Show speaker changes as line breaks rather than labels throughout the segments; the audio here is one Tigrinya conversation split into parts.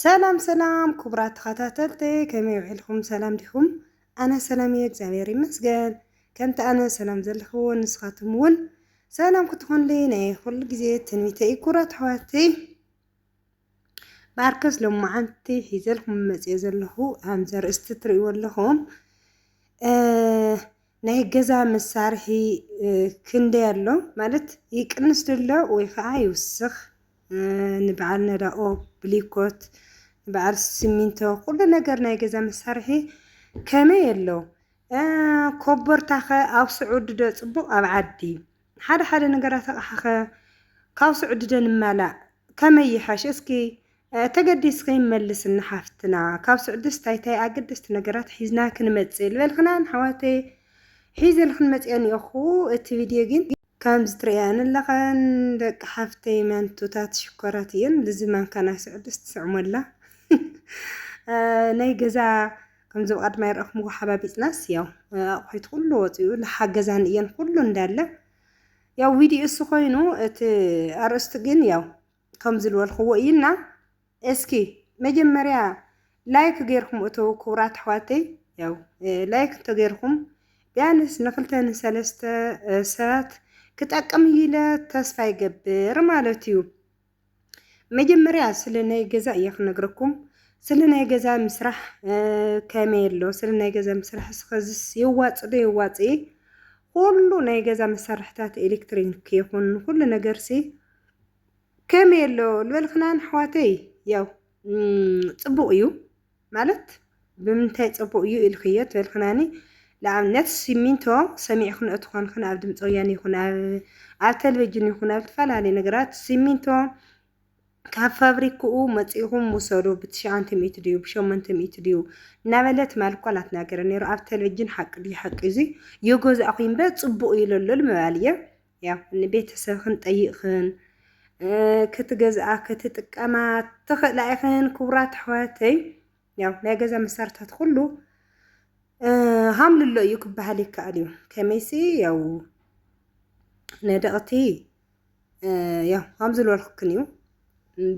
ሰላም ሰላም ክቡራት ተኸታተልቲ ከመይ ውዒልኩም ሰላም ዲኹም? ኣነ ሰላም እየ እግዚኣብሔር ይመስገን። ከምቲ ኣነ ሰላም ዘለኹ ንስኻትኩም እውን ሰላም ክትኾንልይ ናይ ኩሉ ግዜ ትንቢተ እዩ ክቡራት ኣሕዋተይ። ብኣርከስ ሎማዓንቲ ሒዘልኩም መፅኦ ዘለኹ ከምዚ ኣርእስቲ ትርእይዎ ኣለኹም ናይ ገዛ መሳርሒ ክንደይ ኣሎ ማለት ይቅንስ ድሎ ወይ ከዓ ይውስኽ ንበዓል ነዳኦ ብሊኮት ንበዓል ስሚንቶ ኩሉ ነገር ናይ ገዛ መሳርሒ ከመይ ኣሎ ኮቦርታኸ ኣብ ስዑዲ ዶ ፅቡቕ ኣብ ዓዲ ሓደ ሓደ ነገራት ኣቕሓኸ ካብ ስዑዲ ዶ ንማላእ ከመይ ይሓሽ እስኪ ተገዲስኪ መልስልና ሓፍትና ካብ ስዑድስ ታይ ታይ ኣገደስቲ ነገራት ሒዝና ክንመፅእ ዝበልክናን ኣሕዋተይ ሒዘልክን መፅኤ እኒኦኹ እቲ ቪድዮ ግን ከምዚ ትርእያን ኣለኻን ደቂ ሓፍተይ መንቱታት ሽኮራት እየን ልዚ ማንካ ናይ ስዕዲ ስትስዕሞላ ናይ ገዛ ከምዚ ብቐድማ ይረእኹምዎ ሓባቢጥናስ ያው ኣቑሒት ኩሉ ወፂኡ ልሓገዛን እየን ኩሉ እንዳለ ያው ቪድዮ እሱ ኮይኑ እቲ ኣርእስቲ ግን ያው ከምዚ ልበልክዎ እይና እስኪ መጀመርያ ላይክ ገይርኩም እተዉ ክቡራት ኣሕዋተይ ያው ላይክ እንተገይርኩም ቢያንስ ንክልተ ንሰለስተ ሰባት ክጠቅም እዩ ኢለ ተስፋ ይገብር ማለት እዩ መጀመርያ ስለ ናይ ገዛ እየ ክነግረኩም ስለ ናይ ገዛ ምስራሕ ከመይ ኣሎ ስለ ናይ ገዛ ምስራሕ ስኸዝስ የዋፅ ዶ የዋፅ ኩሉ ናይ ገዛ መሳርሕታት ኤሌክትሪክ ይኹን ኩሉ ነገር ሲ ከመይ ኣሎ ልበልክናን ኣሕዋተይ ያው ፅቡቅ እዩ ማለት ብምንታይ ፅቡቅ እዩ ኢልክዮ ትበልክናኒ ንኣብነት ሲሚንቶ ሰሚዕክንኦ ትኾንክን ኣብ ድምፂ ወያነ ይኹን ኣብ ቴሌቭዥን ይኹን ኣብ ዝተፈላለዩ ነገራት ሲሚንቶ ካብ ፋብሪክኡ መፂእኹም ውሰዱ ብትሽዓንተ ሚእቲ ድዩ ብሸሞንተ ሚእቲ ድዩ እናበለ ትማል እኳ ናትናገረ ነይሩ ኣብ ቴሌቭዥን ሓቂ ድዩ ሓቂ እዙይ የገዛእኹ እምበር ፅቡቅ እዩ ለሎ ምባል እየ ያው ንቤተሰብክን ጠይቅክን ክትገዝኣ ክትጥቀማ ትኽእላ ኢኽን ክቡራት ኣሕዋተይ ያው ናይ ገዛ መሳርታት ኩሉ ሃምልሎ እዩ ክበሃል ይከኣል እዩ ከመይሲ ያው ነደቕቲ ያው ሃም ዝበልኩክን እዩ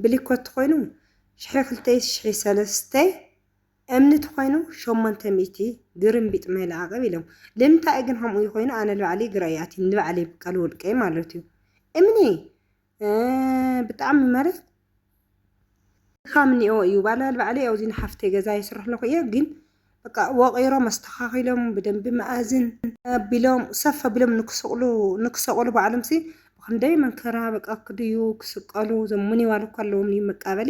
ብሊኮት ኮይኑ ሽሒ ክልተይ ሽሒ ሰለስተይ እምኒ ተኮይኑ ሸሞንተ ሚእቲ ግርምቢጥ ማይ ለኣቅብ ኢሎም ልምንታይ ግን ከምኡ ይኮይኑ ኣነ ልባዕለይ ግራይ ኣትዩ ንልባዕለይ ብቀል ውልቀይ ማለት እዩ እምኒ ብጣዕሚ ማለት ድካም እኒኦ እዩ ባላ ልባዕለይ ኣውዚ ንሓፍተይ ገዛ የስርሕ ኣለኩ እየ ግን በቃ ወቂሮም ኣስተካኪሎም ብደንቢ መኣዝን ኣቢሎም ሰፍ ኣቢሎም ንክስቅሉ ንክሰቅሉ ባዕሎም ሲ ብክንደይ መንከራ በቃ ክድዩ ክስቀሉ ዞም ምንዋል እኳ ኣለዎም እዩ መቃበሊ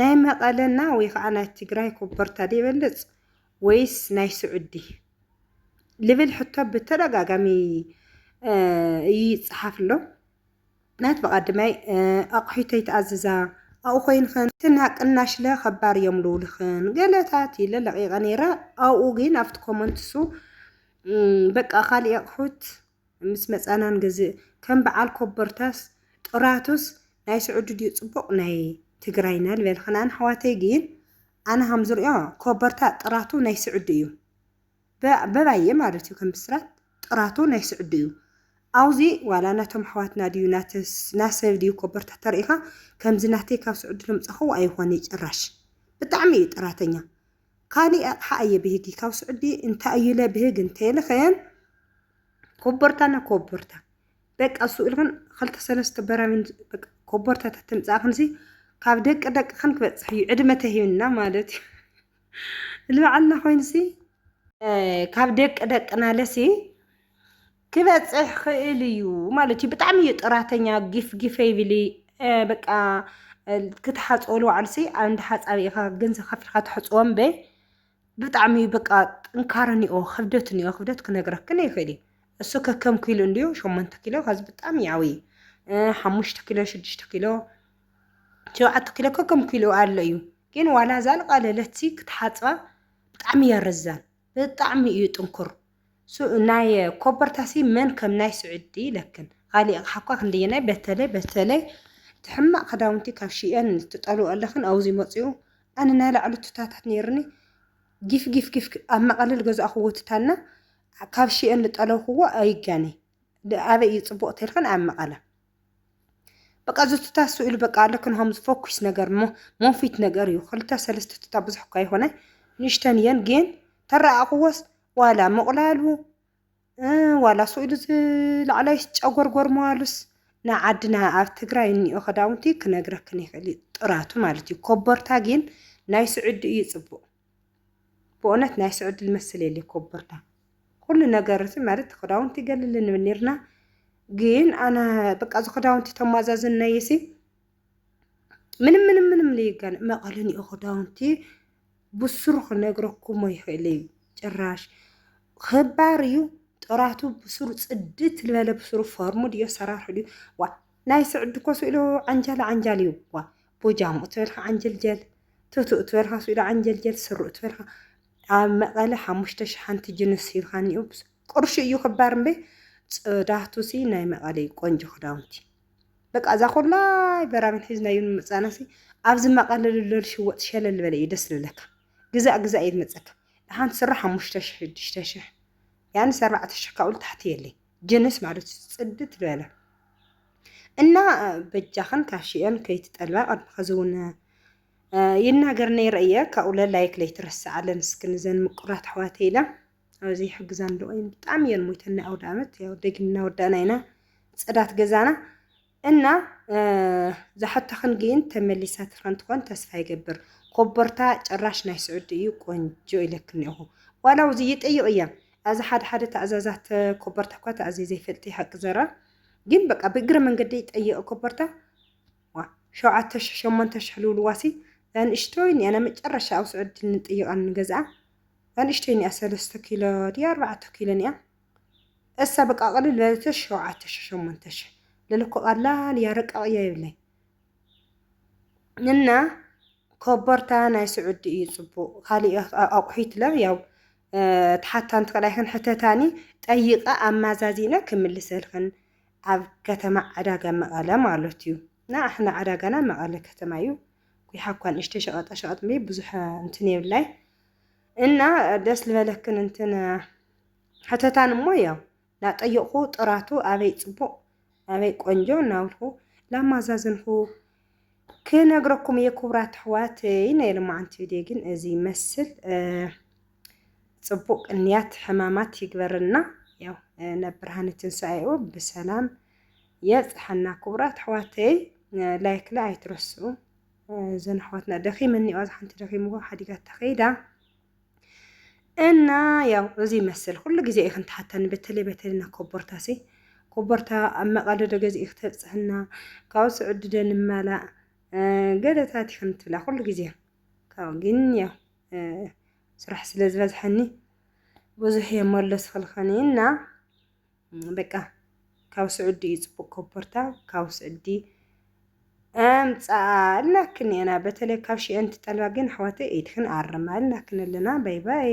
ናይ መቐለና ወይ ከዓ ናይ ትግራይ ኮቦርታ ዶ ይበልፅ ወይስ ናይ ስዑዲ ልብል ሕቶ ብተደጋጋሚ ይፅሓፍ ኣሎ። ናት ብቐድመይ ኣቑሒተይ ትኣዝዛ ኣብኡ ኮይንክን ትና ቅናሽለ ከባር እዮም ልውልኽን ገለታት ኢለ ለቂቐ ነይረ ኣብኡ ግን ኣብቲ ኮመንትሱ በቃ ካልእ ኣቑሑት ምስ መጻና ንገዝእ ከም በዓል ኮቦርታስ ጥራቱስ ናይ ስዑዲ ድዩ ጽቡቅ ናይ ትግራይና ልበልክን ኣነ ኣሕዋተይ ግን ኣነ ከም ዝሪኦ ኮቦርታ ጥራቱ ናይ ስዑዲ እዩ በባየ ማለት እዩ ከም ብስራት ጥራቱ ናይ ስዑዲ እዩ ኣውዚ ዋላ ናቶም ኣሕዋትና ድዩ ናሰብ ድዩ ኮቦርታ ተርእካ ከምዚ ናተይ ካብ ስዑዲ ልምጻኹ ኣይኾነ ጭራሽ ብጣዕሚ እዩ ጥራተኛ ካሊእ ኣቅሓ ኣየብህጊ ካብ ስዑዲ እንተ ኣዩለ ብህግ እንተ ኢልኽን ኮቦርታ ና ኮቦርታ በቃ እሱ ኢልኽን ኸልተ ሰለስተ በራሚን ኮቦርታታት ትምጻእኽንሲ ካብ ደቂ ደቅኽን ክበጽሕ እዩ ዕድመ ተሂብና ማለት እዩ ልበዓልና ኮይንሲ ካብ ደቂ ደቅና ለሲ ክበጽሕ ክእል እዩ ማለት እዩ ብጣዕሚ እዩ ጥራተኛ ጊፍ ጊፍ ይብል በቃ ክትሓጽቦ ንባዕሉሲ ኣንድ ሓጻቢ ኢኻ ገንዘብ ከፊልካ ተሕጽቦ እምበይ ብጣዕሚ እዩ በቃ ጥንካረ እኒኦ ክብደት እኒኦ ክብደት ክነግረክን ይኽእል እዩ እሱ ከከም ኪሉ እንድዩ ሸሞንተ ኪሎ ከዚ ብጣዕሚ ይዓብይ ሓሙሽተ ኪሎ ሽዱሽተ ኪሎ ሸውዓተ ኪሎ ከከም ኪሉ ኣሎ እዩ ግን ዋላ ዛልቃለለትሲ ክትሓጽባ ብጣዕሚ እያ ረዛን ብጣዕሚ እዩ ጥንኩር ናይ ኮቦርታሲ መን ከም ናይ ስዑዲ ኢለክን ቃሊ ኣቕሓ እኳ ክንደየናይ በተለይ በተለይ እቲ ሕማቕ ክዳውንቲ ካብ ሽኤን ትጠልዎ ኣለኽን ኣውዚ መጽኡ ኣነ ናይ ላዕሉ ቱታታት ነይርኒ ጊፍ ጊፍ ጊፍ ኣብ መቐለ ዝገዛእኽዎ ቱታና ካብ ሽኤን ዝጠለብኽዎ ኣይጋነይ ኣበይ እዩ ፅቡቅ ተልክን ኣብ መቐለ በቃ እዚ ቱታ ስእሉ በቃ ኣለክን ሃምዝ ፎኩስ ነገር እሞ ሞፊት ነገር እዩ ክልተ ሰለስተ ቱታ ብዙሕ እኳ ይኾነ ንእሽተን እየን ግን ተረኣቕዎስ ዋላ ምቑላሉ ዋላ ስእሉ ዝላዕላይ ጨጎርጎር መዋሉስ ንዓድና ኣብ ትግራይ እኒኦ ክዳውንቲ ክነግረክን ይኽእል እዩ ጥራቱ ማለት እዩ ኮቦርታ ግን ናይ ስዑዲ እዩ ፅቡቅ ብኡነት ናይ ስዑዲ ልመስል የለ ኮበርታ ኩሉ ነገር እቲ ማለት ክዳውንቲ ይገልል ንብል ነርና ግን ኣነ በቃ እዚ ክዳውንቲ ተማዛዝነይ ሲ ምንም ምንም ምንም ልይገን መቐልን እዩ ክዳውንቲ ብስሩ ክነግረኩሞ ይኽእል እዩ ጭራሽ ክባር እዩ ጥራቱ ብስሩ ፅድት ልበለ ብስሩ ፈርሙ ድዮ ሰራርሑ ድዩ ዋ ናይ ስዕዲ ኮ ስእሉ ዓንጃል ዓንጃል እዩ ዋ ጎጃሙ እትበልካ ዓንጀልጀል፣ ቱቱ እትበልካ ስዊዳ ዓንጀልጀል፣ ስሩ እትበልካ ኣብ መቐለ ሓሙሽተ ሸሓንቲ ጅንስ ሂብካኒ ኡብስ ቅርሹ እዩ ክባር እምበይ ጽዳቱሲ ናይ መቐለ እዩ ቆንጆ ክዳውንቲ በቃ እዛ ኩላይ በራሚን ሒዝናዮ ንምጻናሲ ኣብዚ መቐለ ልሎል ሽወጥ ሸለል ዝበለ እዩ ደስ ዝብለካ ግዛእ ግዛእ እዩ ዝመጸካ ደሓን ስራ ሓሙሽተ ሽሕ ሽዱሽተ ሽሕ ያን ኣርባዕተ ሽሕ ካብኡ ታሕቲ የለይ ጅንስ ማለት እዩ ፅድት ዝበለ እና በጃኽን ካሽየን ከይትጠልባ ቅድሚ ሕዚ እውን ይናገር ነይረ እየ ካብኡ ለላይክ ለይትረስዓለን እስኪ ንዘን ምቁራት ኣሕዋተ ኢለ ኣብዚ ይሕግዛን ዶ ብጣዕሚ እየን ሞይተን ናይ ኣውደ ዓመት ያው ደጊምና ወዳእና ኢና ፅዳት ገዛና እና ዛሐቶኽን ግን ተመሊሳ ትኸን ትኾን ተስፋ ይገብር ኮቦርታ ጭራሽ ናይ ስዑዲ እዩ ቆንጆ ኢለክ እኒኦኹ ዋላ ውዚ ይጠይቕ እያ ኣዚ ሓደ ሓደ ተእዛዛት ኮቦርታ እኳ ተኣዝየ ዘይፈልጥ ሓቂ ዘራ ግን በቃ ብእግረ መንገዲ ይጠይቕ ኮቦርታ ዋ ሸውዓተ ሽሕ ሸሞንተ ሽሕ ልውልዋሲ ንእሽቶይ እኒኣ ናይ መጨረሻ ኣብ ስዑዲ ንጠይቓ ንገዝኣ ንእሽቶይ እኒኣ ሰለስተ ኪሎ ድያ ኣርባዕተ ኪሎ እኒኣ እሳ በቃ ቅልል በለትሽ ሸውዓተ ሽሕ ሸሞንተ ሽሕ ልል እኮ ቀላል እያ ርቀቅ እያ ይብለይ እና ኮቦርታ ናይ ስዑዲ እዩ ፅቡቅ ካሊእ ኣቁሒት ለ ያው ተሓታ እንትክላይክን ሕተታኒ ጠይቃ ኣማዛዚነ ክምልሰልክን ኣብ ከተማ ዕዳጋ መቐለ ማለት እዩ እና ኣሕና ዕዳጋና መቐለ ከተማ እዩ ኩሓ እኳ ንእሽተይ ሸቐጣ ሸቐጥ ብዙሕ እንትን የብላይ እና ደስ ዝበለክን እንትን ሐተታን እሞ ያው ናጠየቁኩ ጥራቱ ኣበይ ጽቡቅ ኣበይ ቆንጆ ናብልኩ ላማዛዘንኩ ክነግረኩም እየ ክቡራት ኣሕዋተይ ናይ ልማዓንቲ ቪድዮ ግን እዚ ይመስል ጽቡቅ እንያት ሕማማት ይግበርና ያው ናብ ብርሃነ ትንሳኤኡ ብሰላም የብጽሐና ክቡራት ኣሕዋተይ ላይክ ላ ኣይትረስኡ እዘን ኣሕዋትና ደኺመን እኒኦ ሓንቲ ደኺምዎ ሓዲጋ ተኸይዳ እና ያው እዚ ይመስል ኩሉ ግዜ እዩ ክንትሓተኒ በተለይ በተለይ ና ኮቦርታ ሲ ኮቦርታ ኣብ መቐደደ ገዝኡ ክተብፅሕና ካብኡ ስዕድደ ንመላእ ገለታት እዩ ክንትብላ ኩሉ ግዜ ካብኡ ግን ያው ስራሕ ስለ ዝበዝሐኒ ብዙሕ የመለስክልክን እና በቃ ካብ ስዑዲ እዩ ፅቡቅ ኮቦርታ ካብ ስዑዲ ኣምፃኣ እልናክን እየና በተለይ ካብ ሽኤን ትጠልባ ግን ኣሕዋተይ ኢድክን ኣርማ እልናክን ኣለና ባይ ባይ